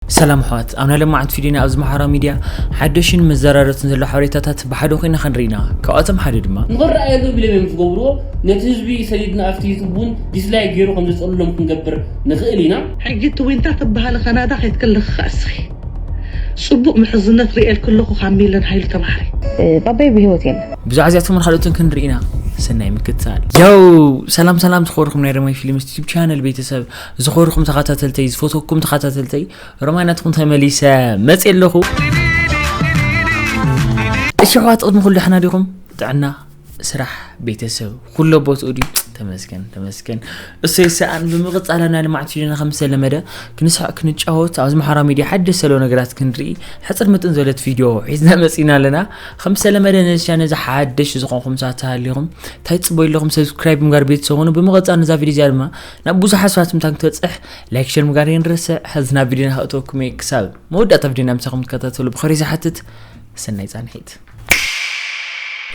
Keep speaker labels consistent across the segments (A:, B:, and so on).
A: ሰላም ኣሕዋት ኣብ ናይ ለማዓንቲ ፊድዮና ኣብዚ ማሕበራዊ ሚድያ ሓደሽን መዘራረትን ዘሎ ሓበሬታታት ብሓደ ኮይና ክንርኢ ኢና ካብኣቶም ሓደ ድማ ንኽረኣየሉ ኢሎም እዮም
B: ዝገብርዎ ነቲ ህዝቢ ሰዲድና ኣብቲ ዩቱብ ውን ዲስላይክ ጌሩ ከም ዘጽልሎም ክንገብር ንኽእል ኢና። ሕጂ እቲ ዊንታ
C: ትብሃሊ ካናዳ ከይትክሊ ክኣ እስኺ ጽቡቅ ምሕዝነት ሪኤልኪ ኣለኩ ካብ ሚለን ሃይሉ ተማሃሪ። ባባይ ብሂወት
D: የለን። ብዛዕባ እዚኣቶምን ካልኦትን
A: ክንርኢ ኢና ሰናይ ምክትታል። ያው ሰላም ሰላም ዝኸበርኩም ናይ ረመይ ፊልምስ ዩቱብ ቻነል ቤተሰብ ዝኸበርኩም ተኸታተልተይ ዝፈትወኩም ተኸታተልተይ ሮማይ ናትኩም ተመሊሰ መፅእ ኣለኹ እሺ ኣሕዋት ቅድሚ ኩሉ ሕና ዲኹም ጥዕና ስራሕ ቤተሰብ ኩሎ ቦትኡ ድዩ ተመስገን ተመስገን እሰይ ሰኣን ብምቕፃል ናይ ልምዓት ሽድና ከም ዝተለመደ ክንስዕ ክንጫወት ኣብዚ ማሕበራዊ ሚድያ ሓደሽ ዘሎ ነገራት ክንርኢ ሕፅር ምጥን ዘለት ቪድዮ ሒዝና መፂና ኣለና ከም ዝተለመደ ነዚ ቻነ እዚ ሓደሽ ዝኾንኩም ሳተሃሊኹም እንታይ ፅበዩ ኣለኹም ሰብስክራይብ ምግባር ቤተሰብ ኹኑ ብምቕፃል ነዛ ቪድዮ እዚኣ ድማ ናብ ብዙሓት ሰባት ምታ ክትበጽሕ ላይክ ሸር ምግባር የንርስዕ ሕዚ ናብ ቪድዮና ከእተወኩም እየ ክሳብ መወዳእታ ቪድዮና ምሳኹም ትከታተሉ ብኸሪ ዝሓትት ሰናይ ጻንሒት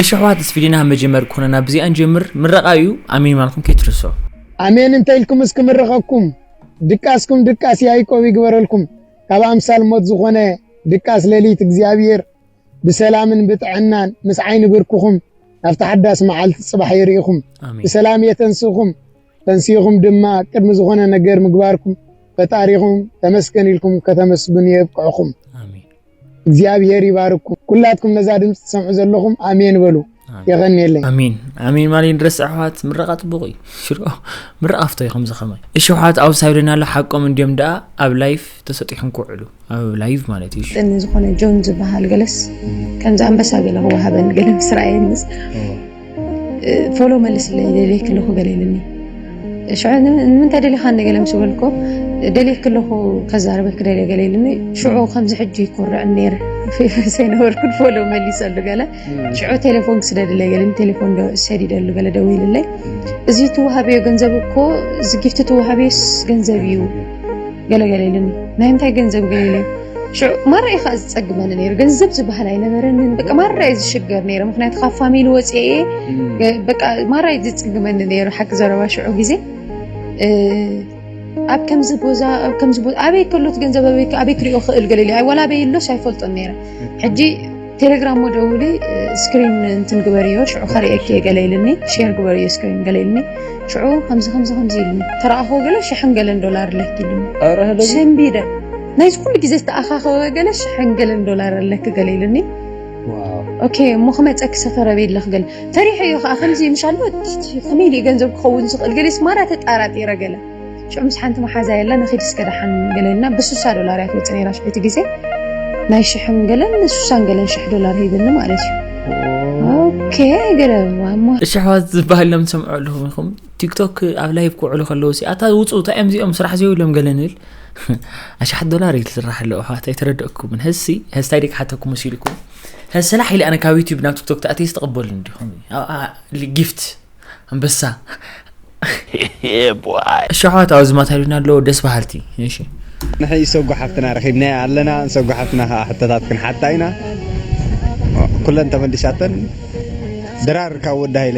A: እሺ ኣሕዋት ምስ ቪድዮና መጀመር ኮነና ብዚኣ ንጀምር ምረቓ እዩ ኣሜን ማልኩም ከይትርሶ ኣሜን እንተ
E: ኢልኩም እስኪ ምርቐኩም ድቃስኩም ድቃስ ያይቆብ ይግበረልኩም ካብ ኣምሳል ሞት ዝኾነ ድቃስ ሌሊት እግዚኣብሔር ብሰላምን ብጥዕናን ምስ ዓይኒ ብርክኹም ናብቲ ሓዳስ መዓልቲ ጽባሕ የርእኹም ብሰላም የተንስእኹም ተንሲእኹም ድማ ቅድሚ ዝኾነ ነገር ምግባርኩም ፈጣሪኹም ተመስገን ኢልኩም ከተመስግኑ የብቅዕኹም።
A: እግዚኣብሄር
E: ይባርኩም። ኩላትኩም ነዛ ድምፂ ትሰምዑ ዘለኹም ኣሜን በሉ። የቀኒየለይ ኣሜን ኣሜን ማሊ
A: ንረስ ኣሕዋት ምረቃ ፅቡቅ እዩ ሽሮ ምረቃ ፍቶ እዩ ከምዚ ከማይ እሺ ኣሕዋት ኣብ ሳይዶና ኣሎ ሓቆም እንዲዮም ደኣ ኣብ ላይፍ ተሰጢሖም ክውዕሉ ኣብ ላይቭ ማለት እዩ ጥኒ ዝኾነ ጆን
D: ዝበሃል ገለስ ከምዚ ኣንበሳ ገለ ክወሃበኒ ገለ ምስ ረኣየኒስ ፎሎ መልስለይ ደልየክ ኣለኹ ገለ ኢልኒ ሽዑ ንምንታይ ደሊኻኒ ገለ ምስ በልኮ ደልየክ ኣለኹ ከዛርበክ ደልየ ገለ ኢልኒ ሽዑ ከምዚ ሕጂ ይኮርዕ ነይረ ሰይነበርኩን ፎሎ መሊሰሉ ገለ ሽዑ ቴሌፎን ክስደድለይ ገለ ቴሌፎን ሰዲደሉ ገለ ደዊልለይ እዚ ትወሃበዮ ገንዘብ እኮ እዚ ጊፍቲ ትወሃበዮስ ገንዘብ እዩ ገለገለ ኢሉኒ ናይ እንታይ ገንዘብ ገለ ሽዑ ማራ እዩ ከዓ ዝፀግመኒ ነይሩ ገንዘብ ዝበሃል ኣይነበረንን በቃ ማራ እዩ ዝሽገር ነይረ ምክንያቱ ካብ ፋሚሊ ወፅአ በቃ ማራ እዩ ዝፅግመኒ ነይሩ ሓቂ ዘረባ ሽዑ ግዜ ኣብ ከምዚ ቦዛ ኣብ ከምዚ ቦዛ ኣበይ ከሎት ገንዘብ ኣበይ ክሪኦ ክእል ገለ ኢለ ዋላ ኣበይ ኣሎስ ኣይፈልጦን ነይረ ሕጂ ቴሌግራም ደውሊ ስክሪን እንትን ግበርዮ ሽዑ ከርእየኪ ገለ ኢልኒ ሼር ግበርዮ ስክሪን ገለ ኢልኒ ሽዑ ከምዚ ከምዚ ከምዚ ኢልኒ ተረኣኹ ገለ ሽሕን ገለን ዶላር ኣለኪ ኢልኒ ሰንቢደ ናይዚ ኩሉ ግዜ ዝተኣኻኸበ ገለ ሽሕን ገለን ዶላር ኣለኪ ገለ ኢልኒ ኦኬ እሞ ክመፀኪ ሰፈረ ቤለኽ ገለ ፈሪሐ እዮ ከዓ ከምዚ ምሻል ከመይ ድዩ ገንዘብ ክኸውን ዝኽእል ገሌ ስማራ ተጣራጢረ ገለ ሽዑ ምስ ሓንቲ መሓዛ የላ ንኺድ እስከ ደሓን ገለ ኢልና ብስሳ ዶላር እያ ትመፅእ ነይራ ሽዑ እቲ ግዜ ናይ ሽሕን ገለን ስሳን ገለን ሽሕ ዶላር ሂብኒ ማለት እዩ ኦኬ ገለ እሞ እሺ ኣሕዋት ዝበሃል
A: ኢሎም ትሰምዑ ኣለኹም ኢኹም ቲክቶክ ኣብ ላይቭ ክውዕሉ ከለዉ ሲ ኣታ ውፁ እንታይ እዮም እዚኦም ስራሕ ዘይብሎም ገለ ንብል ኣሽሓት ዶላር እዩ ዝስራሕ ኣለዎ ኣሕዋት ኣይተረደእኩምን ህዝሲ ህዝታይ ደቂ ሓተኩ መሲልኩም ህዝ ስራሕ ኢለ ኣነ ካብ ዩቲብ ናብ ቲክቶክ ተኣትየ ዝተቐበሉኒ ዲኹም ጊፍት ኣንበሳ እሺ ኣሕዋት ኣብዚ ማታ ኢሉና ኣለዎ ደስ በሃልቲ እሺ ንሕይ ሰጉ
F: ሓፍትና ረኺብናያ ኣለና ንሰጉ ሓፍትና ከዓ ሕቶታት ክንሓታ ኢና ኩለን ተመልሻተን ድራር ካብ ወዲ ሃይለ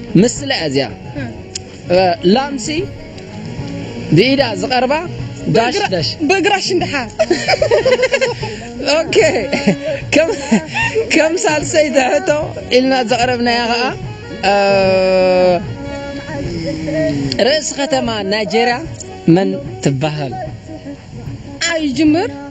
G: ምስላ እያ እዚኣ ላምሲ ብኢዳ ዝቐርባ ዳሽዳሽ በግራ ሽንድሓ ኦኬ ከም ሳልሰይቲ ሕቶ ኢልና ዘቕረብናያ ኸዓ ርእሲ ከተማ ናይጀርያ መን ትበሃል? ኣይጅምር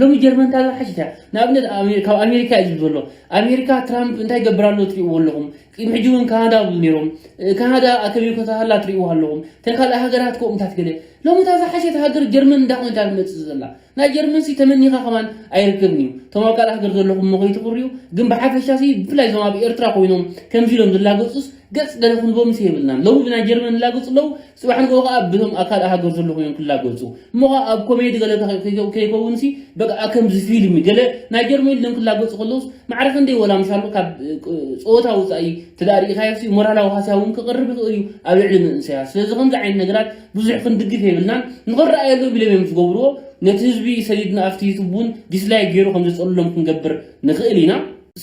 B: ሎሚ ጀርመን እንታይ ዝሓሸት እያ ንኣብነት ኣሜ- ካብ ኣሜሪካ እዩ ዝብል ዘሎ ኣሜሪካ ትራምፕ እንታይ ይገብር ኣሎ ትሪእዎ ኣለኹም ቅድሚ ሕጂ እውን ካናዳ ይብሉ ነይሮም እ፣ ካናዳ ኣከቢብ ከተሃላ ትሪእዎ ኣለኹም እተን ካልእ ሃገራት ከምኡታት ገለ ሎሚ እታ ዝሓሸት ሃገር ጀርመን እንዳ ኮይንታ ትመፅእ ዘላ ናይ ጀርመን ሲ ተመኒኻ ከማን ኣይርከብን እዩ እቶም ኣብ ካልእ ሃገር ዘለኹም እሞ ከይትቕርዩ ግን ብሓፈሻ ሲ ብፍላይ እዞም ኣብ ኤርትራ ኮይኖም ከምዚ ኢሎም ዝላገፁስ ገፅ ገለ ክንቦምስ የብልናን ሎሚ ብናይ ጀርመን ዝላገፁ ኣለዉ ጽባሕ ንግሆ ከኣ በቶም ኣብ ካልእ ሃገር ዘለኹ እዮም ክላገጹ። እሞ ከኣ ኣብ ኮሜዲ ገለ ተኸ ከይከውንሲ በቃ ከምዚ ፊልሚ ገለ ናይ ጀርመን ኢሎም ክላገጹ ከለውስ ማዕረ ክንደይ ወላ ምሻሉ ካብ ጸወታ ወጻኢ እንተ ርኢኻዮሲ ሞራላዊ ሃስያ እውን ክቕርብ ይኽእል እዩ ኣብ ልዕሊ መንእሰያት። ስለዚ ከምዚ ዓይነት ነገራት ብዙሕ ክንድግፍ የብልናን። ንኽረኣየሎም ኢሎም እዮም ዝገብርዎ። ነቲ ህዝቢ ሰዲድና ኣብቲ ዩቱብ እውን ዲስላይክ ገይሩ ከም ዘጸልሎም ክንገብር ንኽእል ኢና።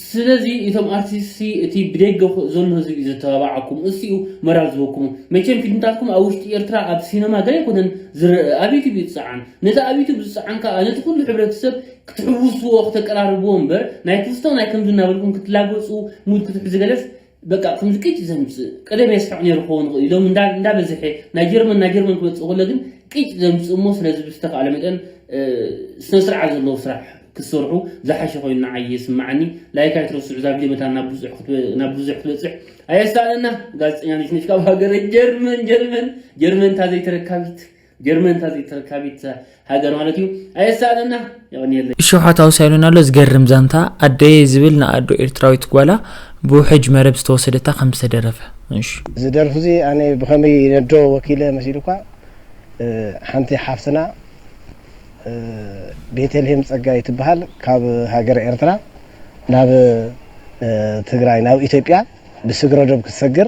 B: ስለዚ እቶም ኣርቲስት ሲ እቲ ብደገ ዘሎ ህዝቢ እዩ ዘተባብዓኩም እሱ እዩ መራል ዝህበኩም መቸም ፊልምታትኩም ኣብ ውሽጢ ኤርትራ ኣብ ሲነማ ገለ ኣይኮነን ዝረእ ኣብ ዩቱብ እዩ ዝጸዓን ነዚ ኣብ ዩቱብ ዝጸዓን ከኣ ነቲ ኩሉ ሕብረተሰብ ክትሕውስዎ ክተቀራርብዎ እምበር ናይ ክስቶ ናይ ከምዚ እናበልኩም ክትላገጹ ሙድ ክትሕዙ ገለስ በቃ ክምልቅጭ ዘምጽእ ቀደም የስሕቕ ነይሩ ክኸውን ይኽእል ኢሎም እንዳበዝሐ ናይ ጀርመን ናይ ጀርመን ክመጽእ ከሎ ግን ቅጭ ዘምጽእ እሞ ስለዚ ብዝተኻእለ መጠን ስነ ስርዓት ዘለዎ ስራሕ ክትሰርሑ ዝሓሸ ኮይኑ ንዓይ ይስምዓኒ ላይክ ኣይትረስዑ እዛ ቪድዮ መታን ናብ ብዙሕ ናብ ብዙሕ ክትበጽሕ ኣየሳእለና ጋዜጠኛ ነሽነሽ ካብ ሃገረ ጀርመን ጀርመን ጀርመን እታ ዘይተረካቢት ጀርመን እታ ተረካቢት ሃገር ማለት እዩ ኣየሳእለና የቀንየለይ እሾሓ ታውሳይሉን
A: ኣሎ ዝገርም ዛንታ ኣደየ ዝብል ንኣዶ ኤርትራዊት ጓላ ብውሕጅ መረብ ዝተወሰደታ ከም ዝተደረፈ እሺ እዚ ደርፊ እዚ ኣነ
H: ብከመይ ነዶ ወኪለ መሲሉካ ሓንቲ ሓፍትና ቤተልሄም ጸጋይ ትበሃል ካብ ሃገረ ኤርትራ ናብ ትግራይ ናብ ኢትዮጵያ ብስግረዶብ ክትሰግር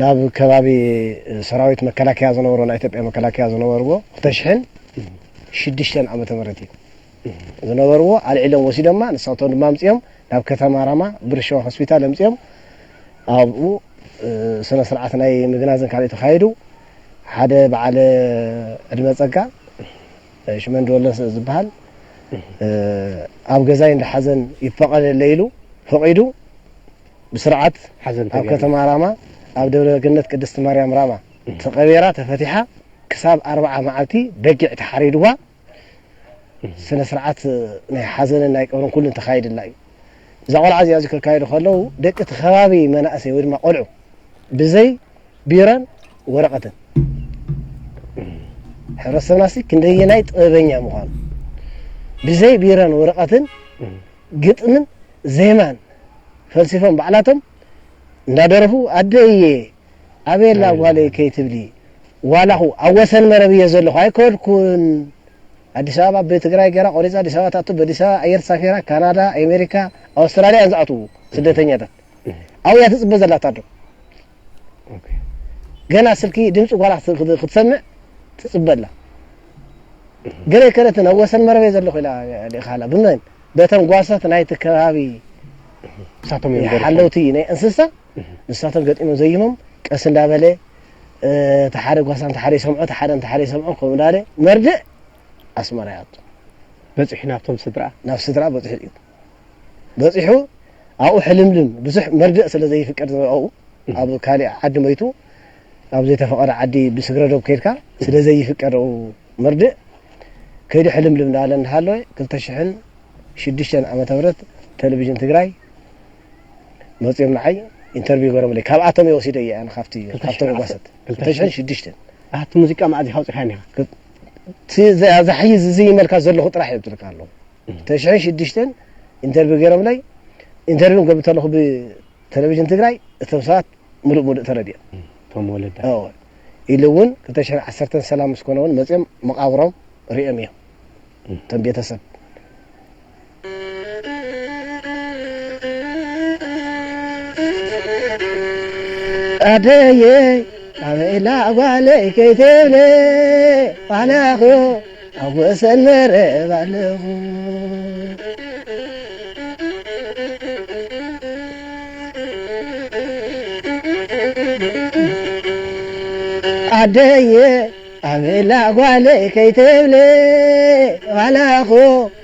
H: ናብ ከባቢ ሰራዊት መከላከያ ዝነበሩ ናይ ኢትዮጵያ መከላከያ ዝነበርዎ ክልተ ሽሕን ሽዱሽተን ዓመተ ምህረት እዩ ዝነበርዎ ኣልዒሎም ወሲዶማ ንሳቶም ድማ ኣምጺኦም ናብ ከተማ ራማ ብር ሸዋ ሆስፒታል ኣምጺኦም ኣብኡ ስነ ስርዓት ናይ ምግናዝን ካልእ ተኻይዱ ሓደ በዓለ ዕድመ ጸጋ ሽመንዲ ወለ ዝበሃል ኣብ ገዛይ እንዳሓዘን ይፈቐደለይ ኢሉ ፈቒዱ ብስርዓት ኣብ
F: ከተማ ራማ
H: ኣብ ደብረ ገነት ቅድስቲ ማርያም ራማ ተቐቢራ ተፈቲሓ ክሳብ ኣርብዓ መዓልቲ በጊዕ ተሓሪድዋ ስነ ስርዓት ናይ ሓዘንን ናይ ቀብርን ኩሉን ተኻይድላ እዩ። እዛ ቆልዓ እዚኣ እዚ ከካይዱ ከለዉ ደቂ እቲ ከባቢ መናእሰይ ወይ ድማ ቆልዑ ብዘይ ቢሮን ወረቐትን ሕብረተሰብና ክንደየናይ ጥበበኛ ምዃኑ ብዘይ ቢሮን ወረቐትን ግጥምን ዜማን ፈልሲፎም ባዕላቶም እንዳደረፉ ኣደ እየ ኣቤላ ጓለይ ከይትብሊ ዋላኹ ኣብ ወሰን መረብ እየ ዘለኹ ኣይከድኩን ኣዲስ ኣበባ ብትግራይ ገራ ቆሪፃ ኣዲስ ኣበባ ትኣቱ በዲስ ኣበባ ኣየር ተሳፊራ ካናዳ ኣሜሪካ ኣውስትራልያ እየን ዝኣትዉ ስደተኛታት ኣብኡ እያ ትፅበ ዘላ እታ ኣዶ ገና ስልኪ ድምፂ ጓላ ክትሰምዕ ትፅበ ኣላ ገለይ ከለትን ኣብ ወሰን መረበይ ዘለኹ ኢላ ልኢኻ ኣላ ብመን በቶም ጓሶት ናይቲ ከባቢ ንሳቶም እዮም ገሪሖም። ሓለውቲ ናይ እንስሳ ንሳቶም ገጢሞም ዘይሞም ቀስ እንዳበለ እ፣ እቲ ሓደ ጓሳ እንተ ሓደ ይሰምዖ እቲ ሓደ እንተ ሓደ ይሰምዖ ከምኡ እንዳለ መርድእ ኣስመራ ይኣቱ
F: በፂሑ ናብቶም ስድራ ናብ ስድራ በፂሑ እዩ
H: በጺሑ ኣብኡ ሕልምልም ብዙሕ መርድእ ስለ ዘይፍቀድ ዝረኣኡ ኣብ ካሊእ ዓዲ ሞይቱ ኣብ ዘይተፈቐደ ዓዲ ብስግረዶብ ከይድካ ስለ ዘይፍቀድ ኣብኡ መርድእ ከይዱ ሕልምልም እናበለ እናሃለወ ክልተ ሽሕን ሽዱሽተን ዓመተ ምህረት ቴሌቪዥን ትግራይ መጺኦም ንዓይ ኢንተርቪው ገሮምለይ ካብኣቶም እየ ወሲደ እየ ኣነ ካብቲ ካብቶም ጓሰት ክልተ ሽሕን ሽዱሽተን ኣቲ ሙዚቃ
F: መኣዚ ካውፅካኒ እቲ ዘሕይዝ
H: ዝይመልካ ዘለኹ ጥራሕ እየ ብትልካ ኣለኹ ተሽሕን ሽዱሽተን ኢንተርቪው ገይሮምለይ ኢንተርቪው ክገብር ከለኹ ብተለቪዥን ትግራይ እቶም ሰባት ምሉእ ምሉእ ተረዲኦም እቶም ወለዳ
F: እወ ኢሉ
H: እውን ክልተ ሽሕን ዓሰርተን ሰላም ምስ ኮነ እውን መፂኦም መቓብሮም ሪኦም እዮም እቶም ቤተሰብ ኣደየ ኣበይ ኢላ ጓለይ ከይትብሊ ዋላኹ ኣብ ወሰን መረብ ኣለኹ ዓደየ ኣበላ ጓለይ ከይትብሊ ዋላኹ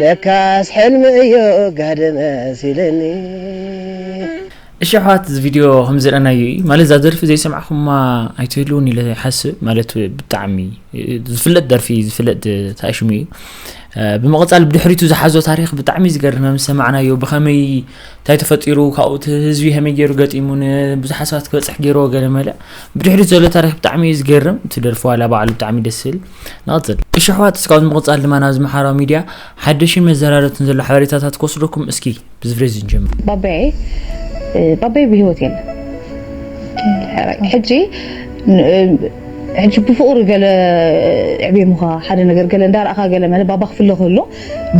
H: ለካስ ሕልሚ እዩ ጋህዲ መሲልኒ። እሺ
A: ኣሕዋት እዚ ቪድዮ ከም ዝረኣናዮ እዩ ማለት እዛ ደርፊ ዘይሰማዕኩማ ኣይትህልውን ኢለ ይሓስብ ማለት ብጣዕሚ ዝፍለጥ ደርፊ ዝፍለጥ ታሽሙ እዩ ብምቕፃል ብድሕሪቱ ዝሓዞ ታሪክ ብጣዕሚ ዝገርም ከም ዝሰማዕናዮ ብከመይ እንታይ ተፈጢሩ ካብኡ እቲ ህዝቢ ከመይ ገይሩ ገጢሙ ንብዙሓት ሰባት ክበፅሕ ገይርዎ ገለ መለ ብድሕሪት ዘሎ ታሪክ ብጣዕሚ እዩ ዝገርም እቲ ደርፊ ዋላ ባዕሉ ብጣዕሚ ደስ ዝብል ንቕጽል። እሺ ኣሕዋት እስካብ ብምቕጻል ድማ ናብዚ ምሓራዊ ሚድያ ሓደሽን መዘራረብትን ዘሎ ሓበሬታታት ክወስደኩም እስኪ ብዚ ፍሬዚ ንጀምር። ባባየይ
D: ባባየይ ብሂወት የለን ሕጂ ሕጂ ብፍቕሪ ገለ ኣዕቢሙኻ ሓደ ነገር ገለ እንዳረኣኻ ገለ መለ ባባ ክፍለ ከሎ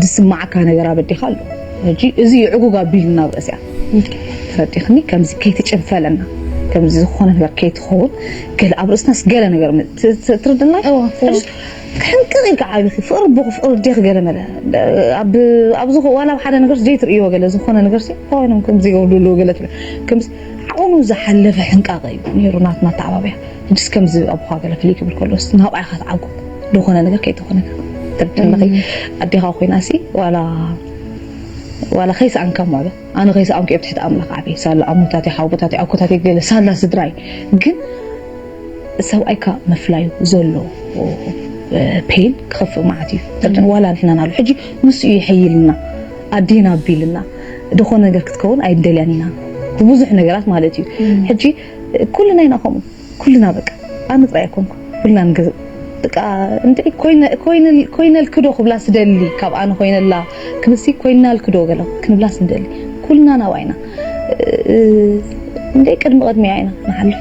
D: ዝስማዓካ ነገር ኣበዲካ ኣሎ ሕጂ እዚ ይዕጉግ ኣቢሉ ናብ ርእስያ ተረዲክኒ ከምዚ ከይትጭንፈለና ከምዚ ዝኾነ ነገር ከይትኸውን ገለ ኣብ ርእስናስ ገለ ነገር ትርድና ሕንቅቕ ኢልካ ዓቢኺ ፍቕሪ ቦኺ ፍቕሪ ዴኺ ገለ መለ ኣብዚ ዋላ ኣብ ሓደ ነገር ዘይትርእይዎ ገለ ዝኾነ ነገር ሲ ኮይኖም ከምዚ ይገብሩ ኣለዉ ገለ ከምዚ ቁኑ ዝሓለፈ ሕንቃቐ እዩ ኔሩ ናትና ኣተዓባብያ ሕጅስ ከምዚ ኣቦኻ ገለ ፍልይ ክብል ከሎስ ናብኣ ኢኻ ትዓጉ ልኾነ ነገር ከይተኾነካ ትርድእለኺ ኣዴኻ ኮይናሲ ዋላ ዋላ ከይሰኣንካ ምዕዶ ኣነ ከይሰኣንኩ ኣብ ትሕቲ ኣምላኽ ዓብየ ሳላ ኣሞታተይ ሓውቦታተይ ኣኮታተይ ገለ ሳላ ስድራይ ግን ሰብኣይካ ምፍላዩ ዘሎ ፔን ክኸፍእ ማለት እዩ ትርድእን ዋላ ንሕና ናሉ ሕጂ ንሱ እዩ ይሕይልና ኣዴና ኣቢልና ድኾ ነገር ክትከውን ኣይደልያን ኢና ብብዙሕ ነገራት ማለት እዩ ሕጂ ኩልና ኢና ከምኡ ኩልና በቃ ኣነ ጥራይ ኣይኮንኩ ኩልና ንገዝእ በቃ እንድዒ ኮይነ ኮይነ ኮይነልክዶ ክብላ ስደሊ ካብ ኣነ ኮይነላ ክብሲ ኮይናልክዶ ገለ ክንብላ ስደሊ ኩልና ናብኣይና እንዴ ቅድሚ ቅድሚያ ኢና ንሓልፍ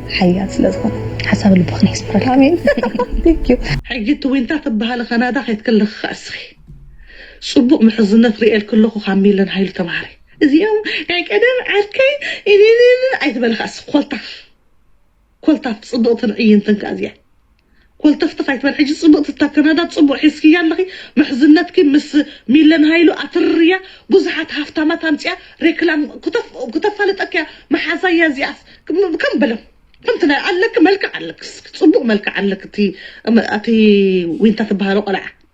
D: ሓያል ስለ ዝኾነ ሓሳብ ልብኽን የስምረልኪ። ኣሜን thank you። ሕጂ እቲ ዊንታ
C: ትብሃሊ ካናዳ ከይትኪ ኣለኺ ከኣ እስኺ ጽቡቅ ምሕዝነት ሪኤልኪ ኣለኩ ካብ ሚለን ሃይሉ ተማሃሪ እዚኦም ናይ ቀደም ዓርከይ እልልልል ኣይትበሊ ከኣ እስኪ ኮልታፍ ኮልታፍ ጽብቅትን ዕይንትን ከኣ እዚኣ። ኮልተፍተፍ ኣይትበል ሕጂ ጽብቅቲ እታ ከናዳ ጽቡቅ ሒዝክያ ኣለኺ ምሕዝነትኪ ምስ ሚለን ሃይሉ ኣትርርያ ብዙሓት ሃፍታማት ኣምጺኣ ሬክላም ክተፋልጠኪ እያ መሓዛ እያ እዚኣስ ከም በሎም ከምቲ ናይ ኣለኪ መልክዕ ኣለኪ እስኪ ጽቡቅ መልክዕ ኣለኪ እቲ እቲ ዊንታ ትበሃሎ ቆልዓ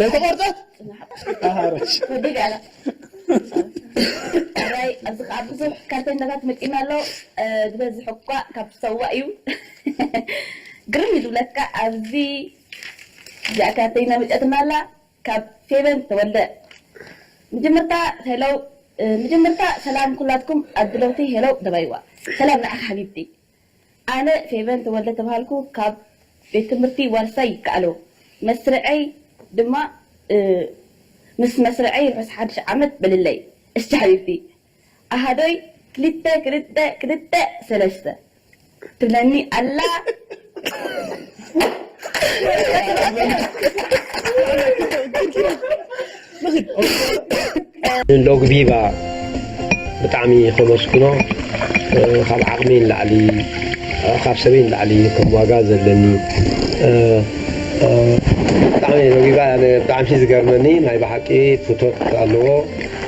I: ደርቆ ቆርጠት
E: ኣሃረሽ
I: ወዲግ ኣላ ራይ ኣብዚ ከዓ ብዙሕ ካርተኛታት መፂኡና ኣሎ ዝበዝሕ እኳ ካብ ሰዋ እዩ ግርም እዩ ዝብለካ ኣብዚ እዚኣ ካርተኛ መፂኣትና ኣላ ካብ ፌቨን ተወልደ ምጅምርታ ሄለው ምጅምርታ ሰላም ኩላትኩም ኣድለውቲ ሄለው ደባይዋ ሰላም ንዓኺ ሓቢብቲ ኣነ ፌቨን ተወልደ ተብሃልኩ ካብ ቤት ትምህርቲ ዋርሳይ ይከኣሎ መስርዐይ ድማ ምስ መስርዐይ ርሑስ ሓድሽ ዓመት በልለይ እሺ ሓቢብቲ ኣሃዶይ ክልተ ክልተ ክልተ ሰለስተ ትብለኒ ኣላ ኣላ።
J: ሎግ ቪቫ ብጣዕሚ ከመስግኖ ካብ ዓቕሚ ንላዕሊ ካብ ሰበይ ንላዕሊ ከም ዋጋ ዘለኒ ብጣዕሚ ሎጊቫ ብጣዕሚ ዝገርመኒ ናይ ብሓቂ ፍቶት ኣለዎ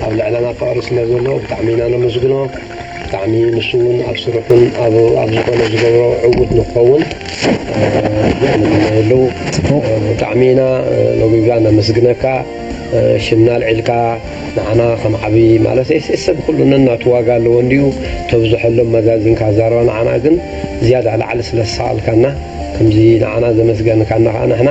J: ኣብ ልዕለና ፍቕሪ ስለ ዘለዎ ብጣዕሚ ኢና ነመስግኖ ብጣዕሚ ንሱ ውን ኣብ ስርሑን ኣብ ኣብ ዝኾነ ዝገብሮ ዕዉት ንክኸውን ንመነየሉ። ብጣዕሚ ኢና ሎሚጋ ነመስግነካ ሽምና ኣልዒልካ ንዓና ከም ዓቢ ማለት ኤስኤስ ሰብ ኩሉ ነናቱ ዋጋ ኣለዎ እንድዩ ተብዝሐሎም መዛዚንካ ኣዛርባ ንዓና ግን ዝያዳ ላዕሊ ስለ ዝሰኣልካና ከምዚ ንዓና ዘመስገንካና ከኣ ንሕና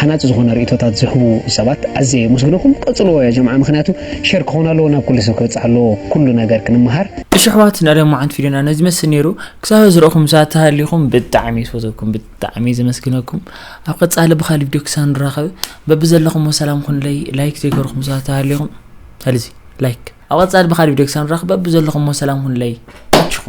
K: ሃናጺ ዝኾነ ርእይቶታት ዝህቡ ሰባት ኣዝየ የመስግነኹም ቀጽልዎ ያጀምዓ ምኽንያቱ ሸር ክኾን ኣለዎ ናብ ኩሉ ሰብ ክበጽሕ ኣለዎ ኩሉ ነገር ክንመሃር። እሺ ኣሕዋት እንዳ ደማዓንቲ
A: ቪድዮና ነዚ ዝመስል ነይሩ ክሳብ ሀዚ ርኢኹም ሳትሃሊኹም ብጣዕሚ ዝፈትወኩም ብጣዕሚ ዘመስግነኩም ኣብ ቀጻሊ ብኻሊ ቪድዮ ክሳብ ንራኸብ በብዘለኹሞ ሰላም ኩኑለይ ላይክ ዘይገርኹም ሳትሃሊኹም ሰለዚ ላይክ ኣብ ቀጻሊ ብኻሊ ቪድዮ ክሳብ ንራኸብ በብዘለኹሞ ሰላም ኩኑለይ